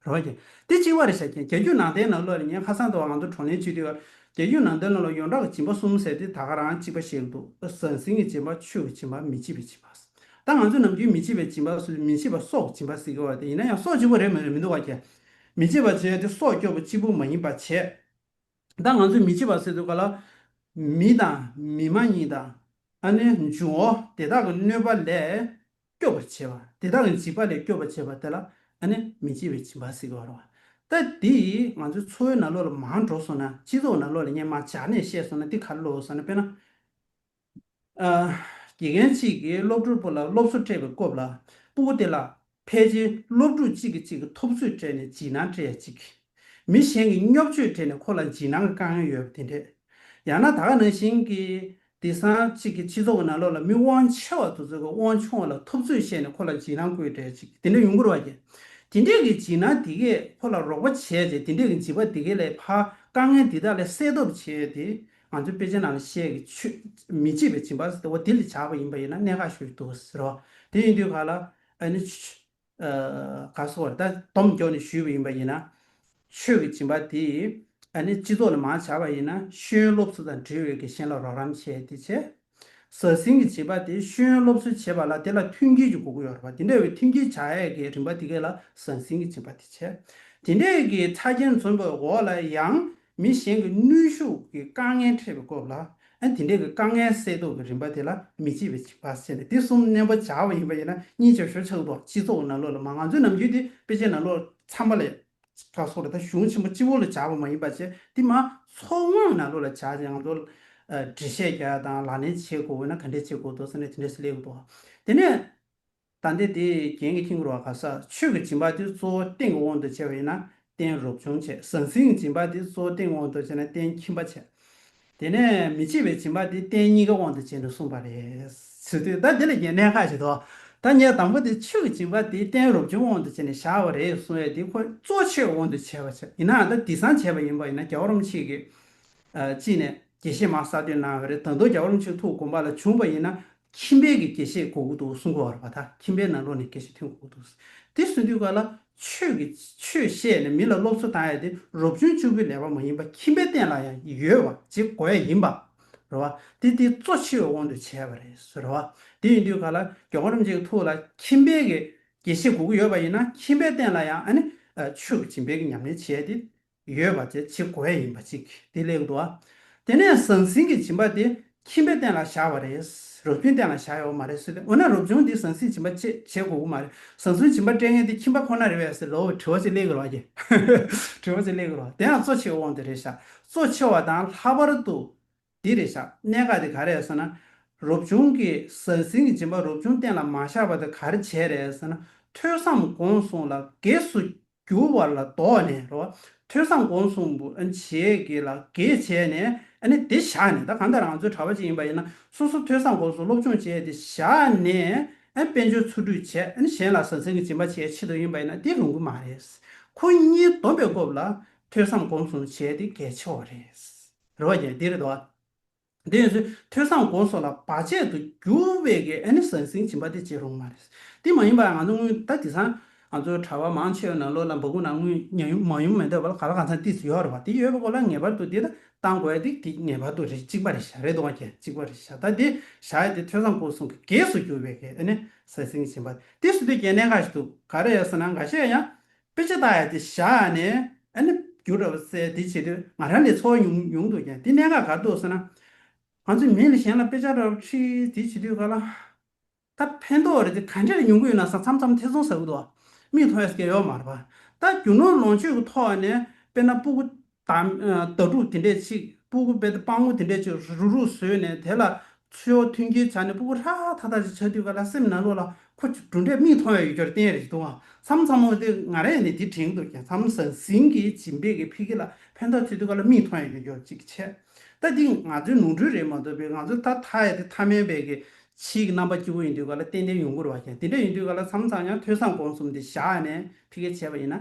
རོ་ཀྱེན་དེ་གཅིག་བ་རེ་བྱ་ཀྱེན་རྒྱ་རྒྱུད་ནང་བསྟན་ནང་ཀློ་ལ་ཉན་ཁ་སང་དུ་བ་ང་ཚོ་གྲོང་ལས་བྱེད་དུས་རྒྱ་རྒྱུད་ནང་བསྟན་ཀློ་ལ་ཡོངས་གྲགས་ཀྱི་སྦྱིན་པ་གསུམ་ཟེར་ཏེ་ད་ག་རང་གཅིག་པ་བཤད་ཀྱི་འདུག་ཟང་ཟིང་གི་སྦྱིན་པ་ཆོས་ཀྱི་སྦྱིན་པ་མི་འཇིགས་པའི་སྦྱིན་པ་ཟེར། ད་ང་ཚོས་ནམ་རྒྱུན་མི་བྱེད་པའི་སྦྱིན་པ་སུས་མི་བྱེད་པ་སོགས་སྦྱིན་པ་ཟེར་གི་བ་དེ་ཡིན་ན་ཡང་སོགས་ཅིག་པོ་རེད་མ་རེད་མི་འདུག་བ་ཁྱེད། མི་བྱེད་པ་བྱེད་དེ་སོགས་སྐྱོ་པོ་ཅིག་པོ་མ་ཡིན་པ་བྱེད། ད་ང་ཚོས་མི་བྱེད་པ་ཟེར་འདུག་ག་ལ། མི་དང་མི་མ་གཉིས་དང། ཨ་ནེ་འབྱུང་བོ་དེ་དག་གི་གནོད་པ་ལས་སྐྱོ་པོ་བྱེད་པ་དེ་དག་གི་འཇིགས་པ་ལས་སྐྱོ་པོ་བྱེད་པ་དེ་ལ་ཨ་ནེ་མི་བྱེད་པའི་སྦྱིན་པ་ཟེར་གི་བ་རེད་བ། ད་དེ་ཡིས་ང་ཚོའི་འཚོ་བའི་ན་ལོ་ལ་མང་འགྲོ་སོང་ན་སྤྱི་ཚོགས་ན་ལོ་ལ་སྙན་མ་བྱ་ནས་བཤད་སོང་ན་དེ་ག་ལ་ལོ་བ་སོང་ན་དཔེར་ན། དགེ་རྒན་གཅིག་གིས་སློབ་ཕྲུག་པོ་ལ་སློབ་གསོ་སྤྲད་པའི་སྐོབས་ལ་སྤུ་བོ་དེ་ལ། ཕལ་ཆེར་སློབ་ཕྲུག་གཅིག་གིས་གཅིག་གི་ཐོབ་ཚོད་སྤྲད་ནས་འཇིགས་སྣང་སྤྲད་ཡ་ཅིག། མི་གཞན་གྱིས་སྙོབ་ཆོས་སྤྲད་ནས་ཁོ་ལ་འཇིགས་སྣང་གི་དཀའ་ངལ་ཡོད་པ་དེ་འདྲས། ཡང་ན་ད་ག་ནང་བཞིན་གྱི་བདེ་སྲང་གཅིག་གིས་སྤྱི་ཚོགས་ཀྱི་ནང་ལོགས་ལ་མི་དབང་ཆེ་བ་དུ་ཚོད་ཀྱི་དབང་ཆུང་བ་ལ་ཐོབ་ཚོད་བཤད་ནས་ཁོ་ལ་འཇིགས་སྣང་བཀོད་སྤྲད་ཡ་ཅིག་དེ་འདྲས་ཡོང་གི་རོ་བ། དེ་འདྲས་ཀྱི་འཇིགས་སྣང་དེ་གས་ཁོ་ལ་རོགས་པ་བྱས་རྗེས་དེ་འདྲས་ཀྱི་འཇིགས་པ་དེ་གས་ལས་ཕ་དཀའ་ངལ་འདི་དག་ལས་སེལ་ཐོབ་བྱས་ཏེ་ང་ཚོའི་དཔེ་ཆའི་ནང་ལ་བཤད་ཀྱི་ཆུ། མི་བྱེད་པའི་བྱིན་པ་ཟེར་ཏེ་འོ་དེ་ལས་བྱ་བ་ཡིན་པ་ཡིན་ན་གནད་འགག་ཤོས་འདུག་ཟེར་རོ། དེ་ཡིན་དུས་ག་ལ། ཨ་ནི། ག་སོགས་རེ་ད་སྡོམ་རྒྱོགས་ནས་ཞུས་པ་ཡིན་པ་ཡིན་ན། ཆོས་ཀྱི་བྱིན་པ་དེ། ཨ་ནི་སྤྱི་ཚོགས་ལ་མ་བྱ་བ་ཡིན་ན་ཤེས་ཡོན་སློབ་གསོ་དང་འབྲེལ་བའི་དགེ་ཞེན་ལ་རོགས་རམ་བྱས་ཏེ་བྱས། ཟ་ཟིང་གི་བྱིས་པ་དེ་ཤེས་ཡོན་སློབ་གསོ་བྱེད་པ་ལ་དེ་ལ་མཐུན་རྐྱེན་གྱི་དགོས་མཁོ་ཡོད་རེད་པ་དེ་འདྲ་བའི་མཐུན་རྐྱེན་བྱ་ཡས་ཀྱི་རིམ་པ་དེ་གས་ལ་ཟ་ཟིང་གི་བྱིས་པ་དེ་བྱས་དེ་འདྲས་ཀྱི་ཆ་རྐྱེན་མཚོན་པའི་འོག་ལ་ཡང་མི་གཞན་གྱི་ནུས་ཤུགས་ཀྱི་དཀའ་ངལ་འཕྲད་པའི་སྐོབས་ལ་ཨ་དེ་འདྲས་ཀྱི་དཀའ་ངལ་སེལ་དོགས་ཀྱི་རིམ་པ་དེ་ལ་མི་བྱེད་པའི་བྱིས་པ་ཟེར་ནས་དེ་གསུམ་བསྣན་པ་བྱ་བ་ཡིན་པ་ཡིན་ན་གཉིས་བྱ་ཞོར་ཆགས་འདུག་པ་སྤྱི་ཚོགས་ནང་ལོགས་ལ་མ་ང་ཚོའི་ནམ་རྒྱུན་དེ་དཔེ་ཆའི་ནང་ལོགས་འཚམས་པ་ལས་ཁྲག་སོགས་ལ་དང་གཞུང་ཆེན་པོ་སྤྱི་བོ་ལ་བྱ་བ་མ་ཡིན་པ་བྱེད་དེ་མ་ཚོགས་སྔགས་ནང་ལོགས་ལ་བྱ་ཞིང་ལོ། འདྲེ་བཤལ་རྒྱ་དང་ལག་ལེན་བྱེད་དགོས་ན་ག་འདྲས་བྱེད་དགོས་དོ་ཟེར་ན་དེ་འདྲས་སུ་ལེགས་དོ། དེ་ནས། ད་འདི་དེ་རྒྱན་གྱི་ཁྱིམ་གུར་བ་ག་ས་ཆོས་ཀྱི་སྦྱིན་པ་དེ་གཙོ་བོ་སྟེང་གི་དབང་དུ་བྱས་པ་ཡིན་ན་རྟེན་རོབ་ཆུང་བྱེད་ཟང་ཟིང་སྦྱིན་པ་དེ་གཙོ་བོ་སྟེང་གི་དབང་དུ་བྱས་ན་རྟེན་ཁྱིམ་པ་བྱེད། དེ་ནས་མི་བྱེད་པའི་སྦྱིན་པ་དེ་སྟན་གཉིས་ཀ་དབང་དུ་བྱས་ནས་གསུངས་པ་རེད། ད་འདི་ལ་ཡེ་ནས་ཁ་ཞེ་དོ། ཐ་སྙད་དང་པོ་དེ་ཆོས་ཀྱི་སྦྱིན་པ་དེ་སྟན་རོབ་བྱུང་དབང་དུ་བྱས་ནས་བཞག་པ་རེད་གསུངས་བས་དེ་ཁོ་གཙོ་ཆེར་དབང་དུ་བྱས་པ་ཆགས་ཡིན་ནའང་ད་དེ་སང་བྱས་པ་ཡིན་པ་ཡིན་ན་རྒྱ་བ་རོམ་ཆིག་གིས། ཅིས་ནས་དགེ་བཤེས་མ་གསར་བསྟོད་གནང་བ་རེད་ད་དུང་རྒྱ་བ་རོམ་ཆིག་ཐུགས་དགོངས་པ་ལ་བྱུང་བ་ཡིན་ན་ཁྱིམ་པའི་གི་དགེ་བཤེས་གོ་གུ་དུ་སུ་འགོ་བར་བ་ཐ་ཁྱིམ་པའི་ནང་ལོག་ནས་དགེ་བཤེས་ཐོན་གོ་གུ་དུ་དེ་སུ་འདུས་ག་ལ་ཆོས་ཀྱི་ཆོས་བཤད་ནས་མི་ལ་སློབ་གསོ་གཏང་ཡ་དེ་རོབ་ཆུང་ཆུ་བོའི་ལས་པ་མ་ཡིན་པ་ཁྱིམ་པའི་སྟེང་ལ་ཡང་ཡོད་བ་ཅིག་གོ་ཡ་ཡིན་པ་རེད་བ་དེ་དེ་གཙོ་ཆེ་བའི་དབང་དུ་བྱས་པ་རེད་བཟོ་རེད་བ་དེ་ཡིན་དུས་ག་ལ་རྒྱ་གོ་རིམ་བྱེད་ཀྱི་ཐུགས་ལ་ཁྱིམ་པའི་གི་དགེ་བཤེས་གོ་གུ་ཡོད་བ་ཡིན་ན་ཁྱིམ་པའི་སྟེང་ལ་ཡང་ཨ་ནི་ཆོས་ཀྱི་བྱིན་འབེབ་ཀྱི་ཉམས་ལེན་བྱེད་ཡ་དེ་ཡོད་པ་བཅས་བྱེད་དགོས་ཡིན་པ་གཅིག་དེ་གླེང་འདུག་དེ་ནས་ཟང་ཟིང་གི་བྱིན་པ་དེ་ཁྱིམ་པའི་སྟེང་ལ་བཞག་པ་རེད། རུ་མཐུན་སྟེང་ལ་བཞག་ཡོད་མ་རེད་ཟེར་ཏེ་འོ་ན་རུ་ཆུང་འདིས་ཟང་ཟིང་བྱིན་པ་བཅས་བྱེད་དགོས་ཀྱི་མ་རེད་ཟང་ཟིང་བྱིན་པ་སྤྲད་མཁན་དེ་ཁྱིམ་པ་ཁོ་ན་རེད་བས་ཟེར་ལོ་དྲི་བ་གཅིག་གླེང་གི་རོགས་གྱིས། དྲི་བ་གཅིག་གླེང་གི་རོགས་དེ་ཡང་གཙོ་ཆེའི་དབང་དུ་རེད་བཞག་གཙོ་ཆེ་བ་དང་ལྷག་པར་དུ་འདི་རེད་བཞག་གནད་འགག་དེ་ག་རེད་ཟེར་ན། རུ་ཆུང་གིས་ཟང་ཟིང་གི་བྱིན་པ་རུ་ཆུང་སྟེང་ལ་མ་བཞག་པ་དེ་ག་རེ་བྱས་རེད་ཟེར་ན་ཐོས་བསམ་དགོངས་གསུངས་ལ་གེགས་སུ་འགྱུར་བ་ལ་དོགས་ནས་རོ། ཐོས་བསམ་སྒོམ་གསུམ་པོ་བྱེད་དགོས་ལ་དགེ་བྱས་ནས་ནི་དེ་བཞག་ནས་ད་གང་ལྟར་རང་ཚོའི་གྲྭ་བ་ཅིག་ཡིན་པ་ཡིན་ན་སོ་སོ་ཐོས་བསམ་སྒོམ་གསུམ་སློབ་སྦྱོང་བྱས་ཏེ་བཞག་ནས་དཔལ་འབྱོར་འཚོ་ཁྲུས་བྱས་ནི་གཞན་ལ་ཟ་འཛིང་གི་སྦྱིན་པ་བྱས་ཆེད་དུ་ཡིན་པ་ཡིན་ན་དེ་ལོང་གི་མ་རེད། ཁོ་གཉིས་སྡོམ་པའི་སྐོབས་ལ་ཐོས་བསམ་སྒོམ་གསུམ་བྱས་ཏེ་གལ་ཆེ་བ་རེད། རེ་བ་ཀྱང་དེ་རེད་དོ། དེ་ཡིན་ཚེ་ཐོས་བསམ་སྒོམ་སོགས་ལ་བར་ཆད་དུ་འགྱུར་བས་ཀྱི་ཨེ་ནི་ཟང་ཟིང་སྦྱིན་པ་དེ་བྱེད་རུང་མ་རེད། དེ་མ་ཡིན་པར་ང་ཚོ་སྔོན་ད་དེ་སང་ང་ཚོའི་གྲྭ་བ་མང་ཆེ་བས་ན་བློ་ལ་འབག་གུ་ནང་དངུལ་ཉག་ཡུམ་མང་ཡུམ་མེད་འདོད་པ་ལ་ག་ལ་གང་ཚང་ཏིས་ཡོད་རེད་བ་དེ་ཡོད་པའི་སྐོར་ལ་ངེས་པར་དུ་དེ་ལྟ་བཏང་དགོས་དེ་དེ་ངེས་པར་དུ་རེད་གཅིག་པ་རེད་བཞག་རེད་དོ་གཅིག་པ་རེད་བཞག་ད་དེ་བཞག་ཡས་དེ་ཐོས་བསམ་སྒོམ་གསུམ་གྱི་གེགས་སུ་གྱུར་བས་ཀྱི་ཨེ་ནི་ཟང་ཟིང་སྦྱིན་པ་དེ་སུ་དེ་རྒྱལ་གནས་ཁ་ཞིག་ཏུ་ག་རེ་ཡོད་ཟེར་ན་འགའ་ཤས་ཡང་དཔེ་ཆ་དག་ཡང་དེ་བཞག་ནས་ཨ་ནི་བསྒྱུར་ར་བ་བསལ་དེ་བྱེད་དུས་ང་རང་ལས་འཚོ་བ་ཉུང་ཉུང་འདུག་ཀྱང་དེ་གནད་འགག་ག་འདུག་ཟེར་ན། ང་ཚོས་མི་ལ་གཞན་ལ་དཔེ་ཆ་ར་བ་ཁྲིད་དེ་བྱེད་དུས་ག་ལ། ད་ཕན་ཐོག་རེ་དེ་ག་འདྲས་ཉུང་གུ་ཡོད་ན་ས་མཚམས་མཚམས་ཐེ་ཚོམ་ཟ་གུ་འདུག་ཨ། མིག་མཐོང་ཡས་ཀྱི་ཡོག་མ་ར་བ། ད་རྒྱུ་ནོར་ལོངས་སྤྱོད་ཀྱི་ཐོག་ནས་དཔེར་ན་སྤུ་གུ་དང། ལྟ་གྲུབ་དེ་འདྲས་ཅིག་སྤུ་གུ་དཔལ་དུ་སྤང་ངོ་དེ་འདྲས་ཅིག་རུག་རུག་བཟོས་ནས་དེ་ལ་ཚུལ་འོག་མཐུན་རྐྱེན་བྱ་ནས་སྤུ་གུ་ཧྲ་ཧྲ་ཐག་ཐག་ཅིག་ཆགས་དུས་ག་ལ་སེམས་ན་ལོ་ལ་ཁོ་ཆུ་གྲུ་འདྲས་མིག་མཐོང་ཡང་ཡོད་ཀྱོར་གཏན་རེ་ཞིག་འདུག་ཨང་མཚམས་མཚམས་མོ་དེ་ང་རས་ནི་དེ་དྲན་འདུག་ཀྱང་མཚམས་ཟང་ཟིང་གིས་བྱིན་འབེབས་ཀྱི་ཕི་གི་ལ་ཕན་ཐོགས་ཆོད་དུས་ག་ལ་མིག་མཐོང་ཡང་ཡོད་ཀྱོར་ཅིག་ཆད། ལྟ་འདི་ང་ཚོའི་ནོར་འཁྲུལ་རེད་མ་གཏོགས་པའི་ང་ཚོ་ད་ཐ་ཡ་དེ་ཐ་མལ་བས་ཀྱི་ཕྱིའི་གི་རྣམ་པ་སྐྱིད་པོ་ཡིན་དུས་ག་ལ་ཏན་ཏན་ཡོང་གི་རུ་བ་ཀྱང་དེ་འདྲས་ཡིན་དུས་ག་ལ་མཚམས་མཚམས་ཀྱང་ཐོས་བསམ་སྒོམ་གསུམ་དེ་བཞག་ནས་ཕི་གས་བྱས་པ་ཡིན་ན་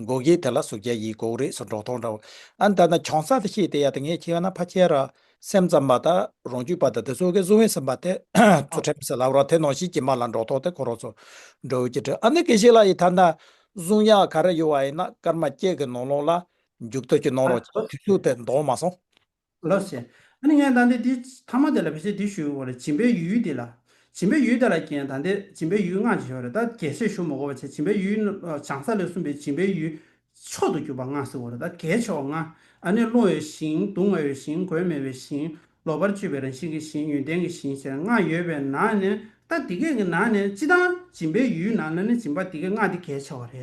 མགོ་སྐྱེས་དེ་ལ་ཟུག་བྱ་ཡིས་འགོག་རེས་སུ་འགྲོགས་མཐོང་འདྲ། ཨ་མདའ་ན་གྱོང་ས་དེ་ཤེས་དེ་ཡ་ད་ངས་ཁྱེད་ཡོང་ན་ཕ་ཁྱེར་ར། སེམས་ཙམ་མ་ད། རོང་རྒྱུད་པ་ད་དེ་ཚོ་གས་བཟུང་བས་སེམས་པ་དེ། ཚོ་ཁྲེམ་སེ་ལབ་རོགས་དེ་ནོ་ཞིག་གྱིས་མ་ལ་འགྲོགས་ཐོག་དེ་ཁོ་རོགས་ཚོ། འགྲོ་འོད་ཀྱིས་དྲིས་ཨ་མདའ་གེ་ཤེས་ལ་ཡི་ད་ན། བཟུང་ཡ་ག་རེ་ཡོད་བ་ཡིན་ན་སྐར་མ་སྐྱེས་གི་ནོར་ལོངས་ལ། འཇུག་ཐོག་གི་ནོར་རོགས་ཀྱིས་དུས་ཚུགས་དེ་འདོགས་མ་སོང། ལོ། ཞེས་ཨ་ནི་ངས་ད་འདི་འདི། ཐ་མ་དེ་ལ་བི་ཞེས་འདི་ཞུས་བོ་རེ་བྱིན་པའི་ཡུལ་འདི་ལ། བྱིན་པའི་ཡུལ་དེ་ལ་རྐྱེན་ད་འདི་བྱིན་པའི་ཡུལ་སྔགས་ཀྱི་ཞོ་རེ་ད་གལ་སྲིད་ཞུ་མི་གོ་བ་བྱས་བྱིན་པའི་ཡུལ་བྱང་ས་ལས་གསུངས་པའི་བྱིན་པའི་ཡུལ། མཆོག་ཏུ་གྱུར་པ་སྔགས་སྲིད་བོ་རེ་ད་གལ་ཆེ་བ་སྔ། ཨ་ནི་རླུང་འོད་བཞིན་གདུང་བ་འོད་བཞིན་གོས་མེ་འོད་བཞིན། ལོག་པར་སྤྱོད་པའི་རང་བཞིན་གྱི་བཞིན་ཡོན་ཏན་གྱི་བཞིན་ཞེས་སྔགས་ཡོད་པའི་ན་ནི་ད་འདི་སྐད་ཀྱི་ན་ནི་ཅི་ད་བྱིན་པའི་ཡུལ་ན་ལ་ནི་བྱིན་པ་འདི་གའི་སྔགས་འདི་གལ་ཆེ་བ་རེ་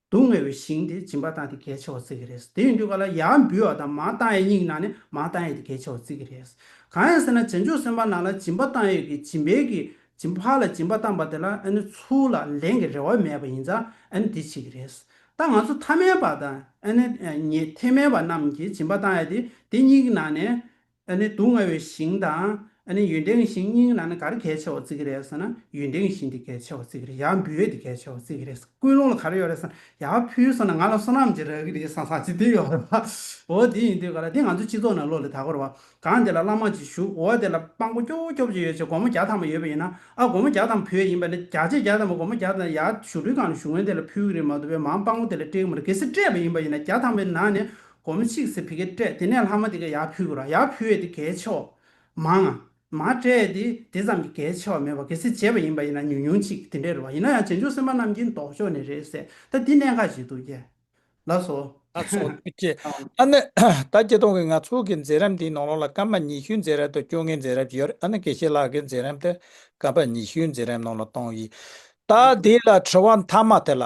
སྡུག་བསྔལ་བའི་ཞིང་དེ་སྦྱིན་པ་བཏང་སྟེ་གལ་ཆེ་བར་བརྩི་གི་རེད། དེ་ཡང་དུས་ག་ལ་ཡར་འབུལ་བ་དང་མ་བཏང་ཡས་གཉིས་ནང་ནས་མ་བཏང་ཡས་དེ་གལ་ཆེ་བར་བརྩི་གི་རེད། གང་ཡང་ཟེར་ན་བྱང་ཆུབ་སེམས་དཔའ་ནང་ལ་སྦྱིན་པ་བཏང་ཡས་ཀྱི་སྦྱིན་པའི་གི་སྦྱིན་ཕག་ལ་སྦྱིན་པ་བཏང་པ་དེ་ལ་ཨ་ནི་ཚུར་ལ་ལེན་གི་རེ་བ་མེད་པ་ཡིན་ཙང་ཨ་ནི་དེ་བྱེད་གི་རེད། ད་ང་ཚོ་ཐ་མལ་པ་དང་ཨ་ནི་ཉེ་ཐེ་མལ་པ་རྣམས་ཀྱིས་སྦྱིན་པ་བཏང་ཡས་དེ་དེ་གཉིས་ཀྱི་ནང་ནས་ཨ་ནི་སྡུག་བསྔལ་བའི་ཞིང་དང། ཨ་ནི་ཡུན་བྲེང་ཞིང་སྙིང་ན་ནི་གར་གལ་ཆེ་བ་བརྩི་གི་རེད་ཟེར་ན་ཡུན་བྲེང་ཞིང་དེ་གལ་ཆེ་བ་བརྩི་གི་རེད་ཡང་འབུལ་བས་དེ་གལ་ཆེ་བ་བརྩི་གི་རེད་ཀུན་སློང་ལ་ག་རེ་ཡོད་རེད་ཟེར་ན་ཡང་ཕུལ་ཟེར་ན་ང་ལ་བསོད་ནམས་ཀྱི་རག་གི་རེད་ཟང་ཟང་ཅི་དེ་ཡོད་རེད་བ། འོ་དེ་ཡིན་དུས་ག་ལ་དེ་ང་ཚོའི་སྤྱི་ཚོགས་ནང་བློ་ལས་དག་གོ་རེད་བ། གང་དེ་ལ་བླ་མ་གཅིག་ཞུགས་འོ་དེ་ལ་དཔང་པོ་སྐྱོ་བོ་སྐྱོ་བོ་ཅིག་ཡོད་ཅེས་སྒོར་མོ་བརྒྱ་ཐམ་པ་ཡོད་པ་ཡིན་ན་ཨ་སྒོར་མོ་བརྒྱ་ཐམ་བུད་ཡ་ཡིན་པ་ནི་བརྒྱ་ཆའི་བརྒྱ་ཐམ་པ་སྒོར་མོ་བརྒྱ་ཐམ་ཡར་ཞུགས་འཕྲུལ་གང་ལ་ཞུགས་ངོས་དེ་ལ་ཕུལ་གི་རེད་མ་འདུག་བས་མང་དཔང་པོ་དེ་ལ་སྤྲད་གི་མ་རེད་གལ་སྲིད་སྤྲད་པ་ཡིན་པ་ཡིན་ན་བརྒྱ་ཐམ་པའི་ནང་ནས་སྒོར་མོ་གཅིག་ཟེར་བི་གེ་སྤྲད་དེ་ནས་ལྷག་མ་དེ་ག་ཡག་ཕུལ་དགོས་ར་ཡག་ཕུལ་བས་དེ་གའི་ཆེ་བ། མང། མ་སྤྲད་དེ་དེ་ཙམ་གྱི་གའི་ཆེ་བ་མེད་པ་གལ་སྲིད་བྱས་པ་ཡིན་པ་ཡིན་ན་ཉུང་ཉུང་ཅིག་དེ་འདྲས་རེད་བ་ཡིན་ན་ཡང་རྗེས་འཇུག་སེམས་པ་རྣམས་ཀྱིས་འདོགས་ཆོག་ནི་རེད་ཟེར་ད་འདི་གནད་འགག་ཅིག་འདུག་རྒྱལ་ལགས་སོ། ལགས་སོ། རྒྱལ་ཨ་ནེ། ད་ཀྱེ་སྟོང་གི་ང་ཚོ་གི་མཛད་རབས་འདིའི་ནང་ལོགས་ལ་སྐར་མ་ཉི་ཤུའི་མཛད་རབས་དང་བཅོ་ལྔའི་མཛད་རབས་ཀྱི་ཡོད་རེད་ཨ་ནེ་གེ་ཤེ་ལགས་ཀྱི་མཛད་རབས་དེ་སྐར་མ་ཉི་ཤུའི་མཛད་རབས་ནང་ལོགས་བཏང་ཡིན། ད་དེ་ལ་དྲི་བ་མཐའ་མ་དེ་ལ།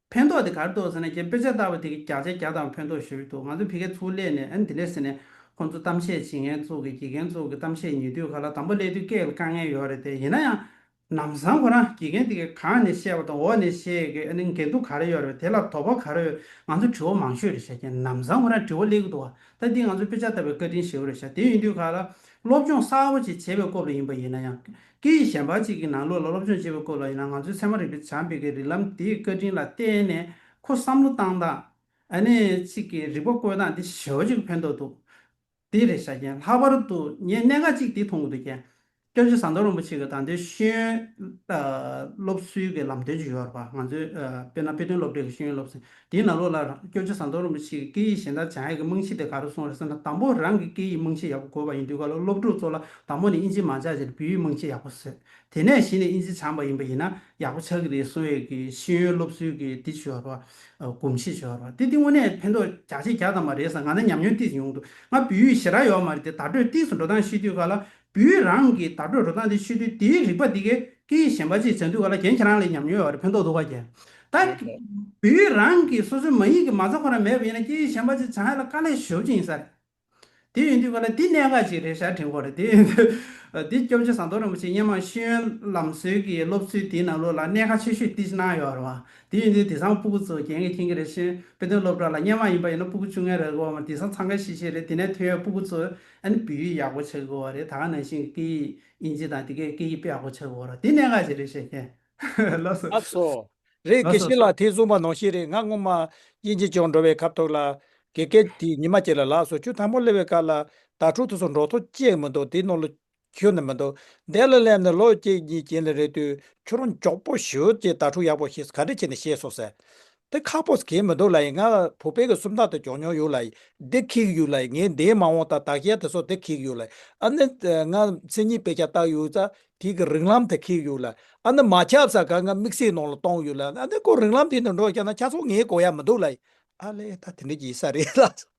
ཕན་ཐོགས་དེ་གར་འདུག་ཟེར་ན་ཁྱེད་དཔེ་ཆ་ལྟ་བ་དེ་གི་བརྒྱག་བྱས་བརྒྱག་དང་ཕན་ཐོགས་ཞེས་འདུག་ང་ཚོ་བི་གའི་ཚུགས་ལས་ནས་ཨ་ནི་དེ་ལས་ཟེར་ནས་ཁོང་ཚོ་གཏམ་བཤད་བྱེད་མཁན་ཚུགས་ཀྱི་དགེ་རྒན་ཚུགས་ཀྱི་གཏམ་བཤད་ཉེ་དུས་ག་ལ་དང་པོ་སླེབས་དུས་སྐད་ལ་དཀའ་ངལ་ཡོད་རེད་དེ་ཡིན་ན་ཡང་ནམ་བཟང་ཁོ་རང་དགེ་རྒན་དེ་གི་གང་ནས་བཤད་པ་དང་འོག་ནས་བཤད་གི་ཨ་ནི་འགལ་འདུ་ག་རེ་ཡོད་རེད་དེ་ལ་དོགས་པ་ག་རེ་ཡོད་ང་ཚོ་དྲི་བ་མང་ཤོས་རེད་ཤ་ཁྱེད་ནམ་བཟང་ཁོ་རང་དྲི་བ་སླེབས་ཀྱི་འདུག་བ་ད་འདི་ང་ཚོ་དཔེ་ཆ་ལྟ་བའི་བཀའ་དྲིན་ཞེ་བོ་རེད་ཤ་དེ་ཡིན་དུས་ག་ལ་སློབ་སྦྱོང་གསར་བོ་ཅིག་བྱེད་པའི་སྐོར་ལ་ཡིན་པ་ཡིན་ན་ཡང་སྐད་ཡིག་གཞན་པ་གཅིག་གི་ནང་ལོགས་ལ་སློབ་སྦྱོང་བྱེད་པའི་སྐོར་ལ་ཡིན་ན་ང་ཚོའི་ཚད་མ་རིག་པའི་བྱམས་པའི་སྒེར་རིགས་ལམ་དེའི་བཀའ་དྲིན་ལ་བརྟེན་ནས་ཁོ་བསམ་བློ་བཏང་སྟངས་ཨ་ནེ་གཅིག་གི་རིག་པ་བཀོལ་སྟངས་དེ་ཞེ་བོ་གཅིག་གི་ཕན་ཐོགས་འདུག་དེ་རེད་བྱ་རྒྱན་ལྷག་པར་དུ་ངས་གནད་འགག་གཅིག་དེ་མཐོང་གི་འདུག་རྒྱན་སྐྱབས་རྗེ་ཟམ་གདོང་རིན་པོ་ཆེ་གི་དང་དོན་ཤེས་ཡོན་སློབ་གསོའི་གི་ལམ་སྟོན་གྱི་ཡོ་བར་པ་ང་ཚོའི་དཔེར་ན་དཔེ་སྟོན་སློབ་གྲྭའི་གི་ཤེས་ཡོན་སློབ་གསོའི་དེའི་ནང་ལོགས་ལ་རང་སྐྱོན་ཆ་ཚང་མདོག་རིང་པོ་ཞིག་གི་སྐད་ཡིག་གཞན་དག་བྱང་ཡིག་གི་རྨང་གཞི་དེ་ག་རུ་སོང་རེད་བསམ་ན་དང་པོ་རང་གི་སྐད་ཡིག་རྨང་གཞི་ཡག་པོ་དགོས་པ་ཡིན་དུས་ག་ལོ་སློབ་ཕྲུག་ཚོ་ལ་དང་པོ་ནས་དབྱིན་ཇི་མ་སྦྱངས་ཕྱིར་བོད་ཡིག་རྨང་གཞི་ཡག་པོ་བཟོས། དེ་ནས་གཞི་ནས་དབྱིན་ཇི་སྦྱངས་པ་ཡིན་པ་ཡིན་ན་ཡག་པོ་ཆགས་ཀྱི་རེད་གསུང་བའི་གི་ཤེས་ཡོན་སློབ་གསོའི་གི་དེ་བྱོས་བར་བ། གོམས་གཤིས་བྱོས་བར་བ་དེ་དེ་དངོས་གནས་ཕན་ཐོགས་རྒྱ་ཆེ་རྒྱག་ཐང་མ་རེད་བསམ་ང་ནི་ཉམས་མྱོང་ཏིས་ཡོང་དུ་ང་བོད་ཡིག་ཞེ་དྲག་ཡོག་མ་རེད་དེ་དར་གྲོས་ཏིས་སུ་འགྲོ་སྟངས་ཤེས་དུས་ག་ལ་བུའི་རང་གི་བརྡ་སྤྲོད་འགྲོ་སྟངས་དེ་ཆོས་དུས་དེའི་རིག་པ་དེ་ཀའི་ཀྱི་ཞེན་པ་ཅིག་ཟེར་འདུག་ག་ལ་གྱན་ཁྱེད་རང་ལས་ཉམས་མྱོས་བ་རེད་ཕན་ཐོག་འདུག་ག་གྱན། ད་རེད་རེད། བུའི་རང་གི་སོ་སོའི་མ་ཡིན་གྱི་མ་རྩ་ཁོ་ན་མེད་པ་ཡིན་ན་ཀྱི་ཞེན་པ་ཅིག་བྱང་ཡ་ལ་དཀའ་ལས་ཞོབ་ཅིག་ཡིན་ས་རེད། དེ་ཡོད་འདུག་ག་ལ་འདི་གནད་འགག་ཅིག་རེད་ཞར་དྲན་གོ་རེད་དེ་ཡོད་འདུག་འདི་སྐྱོབ་རྗེ་ཟངས་མདོག་རིན་པོ་ཆེ་སྙན་མང་ཤེས་ཡོན་ལམ་སྲོལ་གྱི་སློབ་ཚུལ་དེའི་ནང་ལུགས་ལ་གནད་འགག་ཆེ་ཤོས་ཏིས་གནང་ཡོད་རེད་བ་དེ་ཡོད་འདུག་དེ་ཟངས་སྤུ་གུ་ཚོ་གྱན་གྱི་མཁྱེན་གྱི་རེད་ཤེས་དཔེ་སྟོན་སློབ་གྲྭ་ལ་སྙན་མང་ཡིན་པ་ཡིན་ན་སྤུ་གུ་བཅུ་ལྔའི་རེ་བ་མ་དེ་ཟངས་ཚང་ཁ་ཤེས་ཤེས་རེད་དེ་ནས་ཐོན་ཡོད་སྤུ་གུ་ཚོས་ཨ་ནི་བི་ཡིས་ཡག་པོ་བྱེད་དགོས་བ་རེད་ད་ག་ནང་བཞིན་སྐད་ཡིག་དབྱིན་ཇི་དང་དེ་གའི་སྐད་ཡིག་དཔེ་ཡག་པོ་བྱེད་དགོས་རོགས་དེ་གནད་འགག་ཅིག་རེད་བཤད་མཁན། ལོ་སོ། ཨ་སོ། རེད་གེ་ཤི་ལ་དེ་གསུངས་པ་ནོར་ཤེས་རེད་ང་སྔོན་མ་དབྱིན་ཇི་སྦྱོང་འགྲོ་བའི་ཁབ་ཐོག་ལ་གེ་སྐད་དེ་ཉི་མ་གཅིག་ལ་ལགས་སོ་ཆུ་དམ་པོ་སླེ་བའི་སྐབས་ལ་དྭ་ཕྲུག་ཐུག་སོ་འགྲོ་ཐོ་གཅེས་མི་འདུག་དེ་ནོར་ལོ་ཁྱོད་ནི་མི་འདུག་བདེ་ལ་སླེབས་ནས་ལོ་གཅིག་གཉིས་གྱེན་ལ་རེད་དུས་ཁྱོད་རང་མགྱོགས་པོ་བཞུད་ཅེས་ད་ཕྲུག་ཡག་པོ་ཞིག་ག་འདྲ་བྱས་ནས་བཤད་སོང་ཟེར། དེ་ཁ་པོ་གྱེས་མི་འདུག་ལ་ཡིན་ང་བུ་ཕལ་གྱི་སུམ་རྟགས་དེ་འཇོག་མྱོང་ཡོད་ལ་ཡིན་འདི་ཁེགས་ཡོད་ལ་ཡིན་ངས་འདིའི་མ་འོངས་དང་དག་རྒྱལ་དེ་སོགས་དེ་ཁེགས་ཡོད་ལ་ཡིན་ཨ་ནི་ང་མཚན་ཉིད་དཔེ་ཆ་བཏགས་ཡོད་ཙང་དེ་གི་རིག་ལམ་དེ་ཁེགས་ཡོད་ལ་ཡིན་ཨ་ནི་མ་ཁྱབ་ས་ག་ང་དམིགས་བསལ་ནང་ལ་བཏང་ཡོད་ལ་ཡིན་ཨ་ནི་ཁོ་རིག་ལམ་དེ་ནས་འགྲོ་བཞག་ན་ཆ་ཚང་ངའི་གོ་ཡ་མི་འདུག་ལ་ཡིན་ཨ་ལས་ད་དེ་འདྲ་གྱི་ས་རེད་ལགས་སོ།